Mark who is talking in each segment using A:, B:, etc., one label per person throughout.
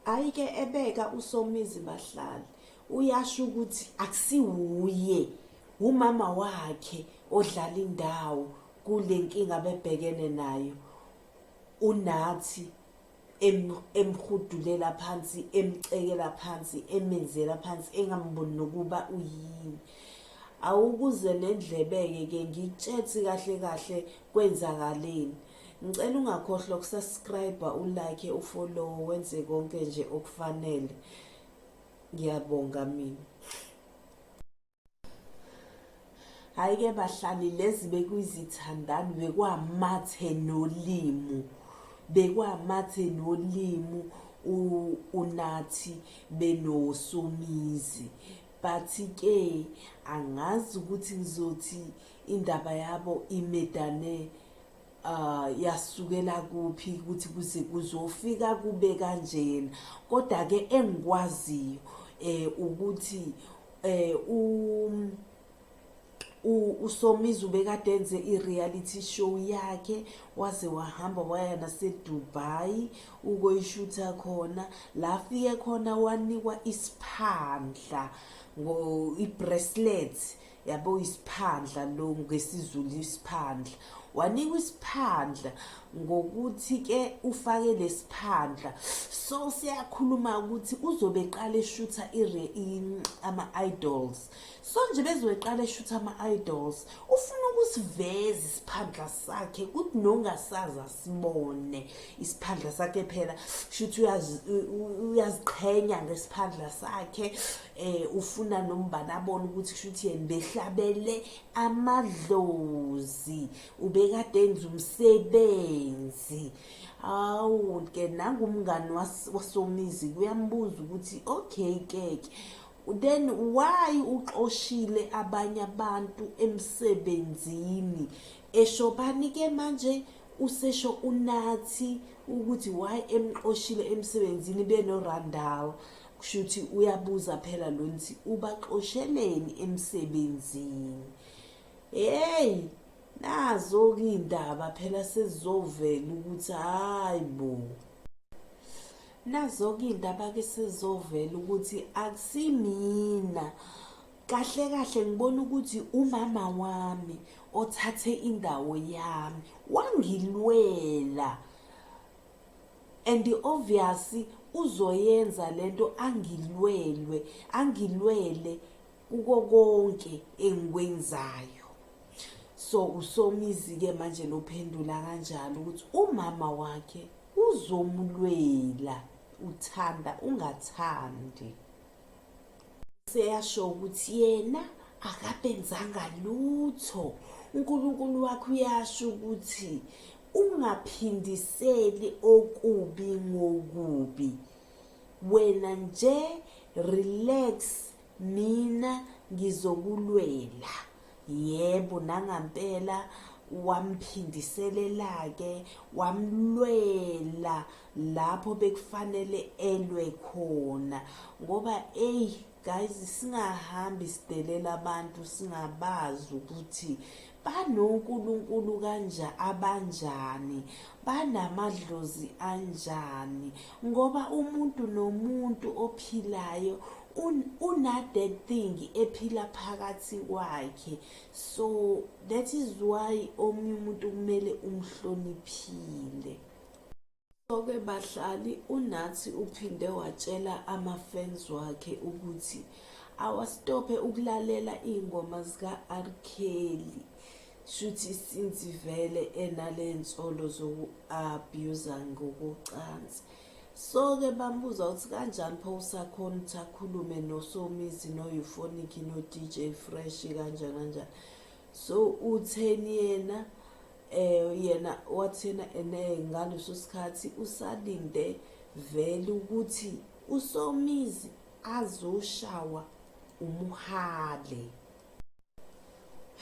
A: ayike ebeka usomizi bahlali uyasho ukuthi akusiwuye umama wakhe odlala indawo kule nkinga bebhekene nayo unathi emhudulela phansi emcekela phansi emenzela phansi engamboni nokuba uyini awukuze nendlebe-ke ke ngitshethi kahle kahle kwenzakaleni ngicela ungakhohlwa ukusubscribe ulike ufollow wenze konke nje okufanele ngiyabonga mina hayi ke bahlali lezi bekuyizithandani bekwamathe nolimu bekwamathe nolimu unathi benosomizi but ke angazi ukuthi ngizothi indaba yabo imedane uh yasukela kuphi ukuthi kuze kuzofika kube kanjena kodwa ke engikwaziyo eh ukuthi eh um usomizi ubekade enze i-reality show yakhe waze wahamba waya nasedubai ukoyishutha khona la afike khona wanikwa isiphandla i-bracelet yabo uyisiphandla lo ngesizulu isiphandla wanikwa isiphandla ngokuthi ke ufake lesiphandla so siyakhuluma ukuthi uzobe eqala eshutha ama idols so nje bezoqala eshutha ama idols ufuna ukusiveza isiphandla sakhe ukuthi nongasaza sibone isiphandla sakhe phela shuthi uyaziqhenya ngesiphandla sakhe eh ufuna nombani abone ukuthi kushuthi yena behlabele amadlozi ubekade enza umsebenzi awu ke nangumngani wasomizi kuyambuza ukuthi okay keke then why uxoshile abanye abantu emsebenzini eshobani ke manje usesho unathi ukuthi why emxoshile emsebenzini benorandal kushuthi uyabuza phela lo nthi ubaxosheleni emsebenzini hey nazo ke indaba phela sezizovela ukuthi hayi bo nazo ke indaba ke sezizovela ukuthi akusimina kahle kahle ngibona ukuthi umama wami othathe indawo yami wangilwela and obvious uzoyenza lento angilwelwe angilwele kuko konke engikwenzayo so usomizi ke manje lophendula kanjalo ukuthi umama wakhe uzomlwela uthanda ungathandi seyasho ukuthi yena akabenzanga lutho uNkulunkulu wakho uyasho ukuthi ungaphindiseli okubi ngokubi wena nje relax mina ngizokulwela Yebo nangampela wamphindiselelake wamlwela lapho bekufanele elwe khona ngoba eyi guys singahambi sidelela abantu singabazi ukuthi banonkulunkulu kanja abanjani banamadlozi anjani ngoba umuntu nomuntu ophilayo unathe thing ephila phakathi kwakhe so that is why omunye umuntu kumele umhloniphile Soke bahlali uNathi uphinde watshela ama-fans wakhe ukuthi awastophe ukulalela iy'ngoma zika-R Kelly shuthi since vele enale nsolo zoku-abuse-a ngokocansi. Soke bambuza ukuthi kanjani pho usakhona ukuthi akhulume noSomizi no-Euphonic no-DJ Fresh kanjani kanjani so utheni yena eh yena wathena ene ngaleso sikhathi usalinde vele ukuthi uSomizi azoshawa umuhale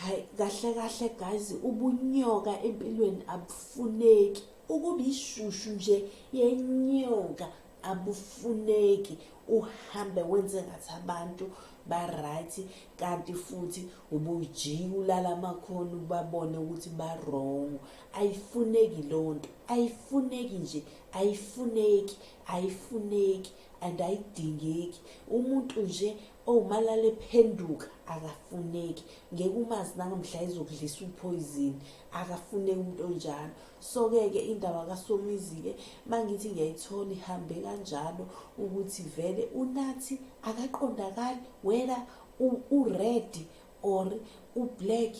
A: hayi kahle kahle guys ubunyoka empilweni abufuneki ukuba ishushu nje yenyoka abufuneki uhambe wenze ngathi abantu ba-right kanti futhi ubujiya ulala amakhona ubabone ukuthi ba-wrong ayifuneki loo nto ayifuneki nje ayifuneki ayifuneki and ayidingeki umuntu nje Oh malale phenduka akafuneki ngeke umazi nangamhla izokudlisa uphoyizini akafuneki umuntu onjalo so-ke ke indaba kasomizi-ke mangithi ngiyayithola ihambe kanjalo ukuthi vele unathi akaqondakali wena uredi or ublack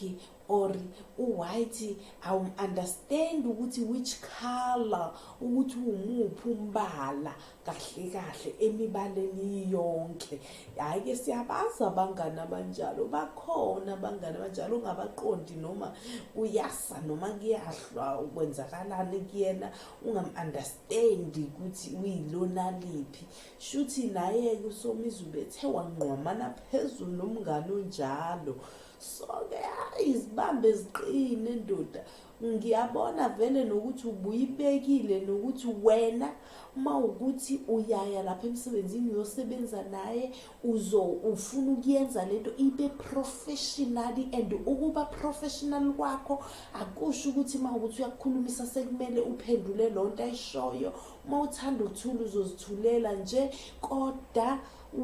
A: or uwhite awumunderstand ukuthi which color ukuthi umuphi umbala kahle kahle emibaleni yonke hhayi ke siyabazi abangani abanjalo bakhona abangani abanjalo ungabaqondi noma kuyasa noma kuyahlwa ukwenzakalani kuyena ungamu-understandi ukuthi uyilona liphi shuthi naye-ke usomizi ubethe wangqwamana phezulu nomngane onjalo so-ke hayi izibambe ziqine ndoda ngiyabona vele nokuthi ubuyibekile nokuthi wena uma ukuthi uyaya lapha emsebenzini uyosebenza naye uzo ufuna ukuyenza lento ibe professionally and ukuba professional kwakho akusho ukuthi uma ukuthi uyakukhulumisa sekumele uphendule lonto ayishoyo uma uthanda uthula uzozithulela nje koda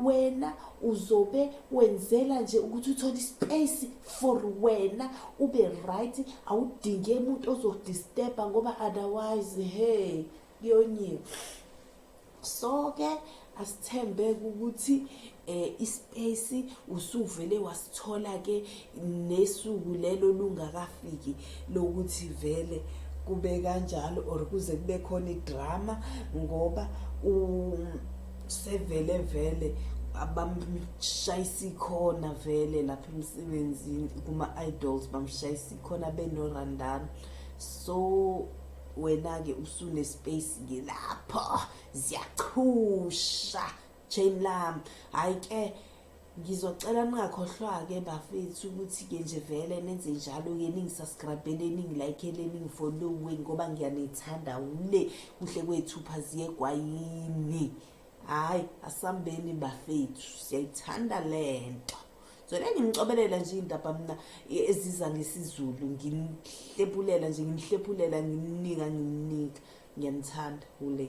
A: wena uzobe wenzela nje ukuthi uthole ispace for wena ube right awudinge umuntu ozodisturba ngoba otherwise hey kuyonyiwe so ke asithembe ukuthi eh ispace usuvele wasithola ke nesuku lelo lungakafiki lokuthi vele kube kanjalo or kuze kube khona idrama ngoba u sevele vele abamshayisa ikhona vele lapha emsebenzini kuma-idols bamshayisa ikhona benorandana so wena-ke usunespace-ke lapho ziyachusha jane lam hhayi ke ngizocela ningakhohlwa-ke bafethu ukuthi-ke nje vele nenze njalo-ke ningisaskrabhele ningilayikhele ningifollowe ngoba ngiyanithanda wule kuhle kwethu phaziye kwayini hhayi asambeni bafethu siyayithanda le nto zona ngimcobelela nje iy'ndaba mna e, eziza ngesizulu ngimhlephulela nje ngimhlephulela ngimnika ngimnika ngiyanithanda wule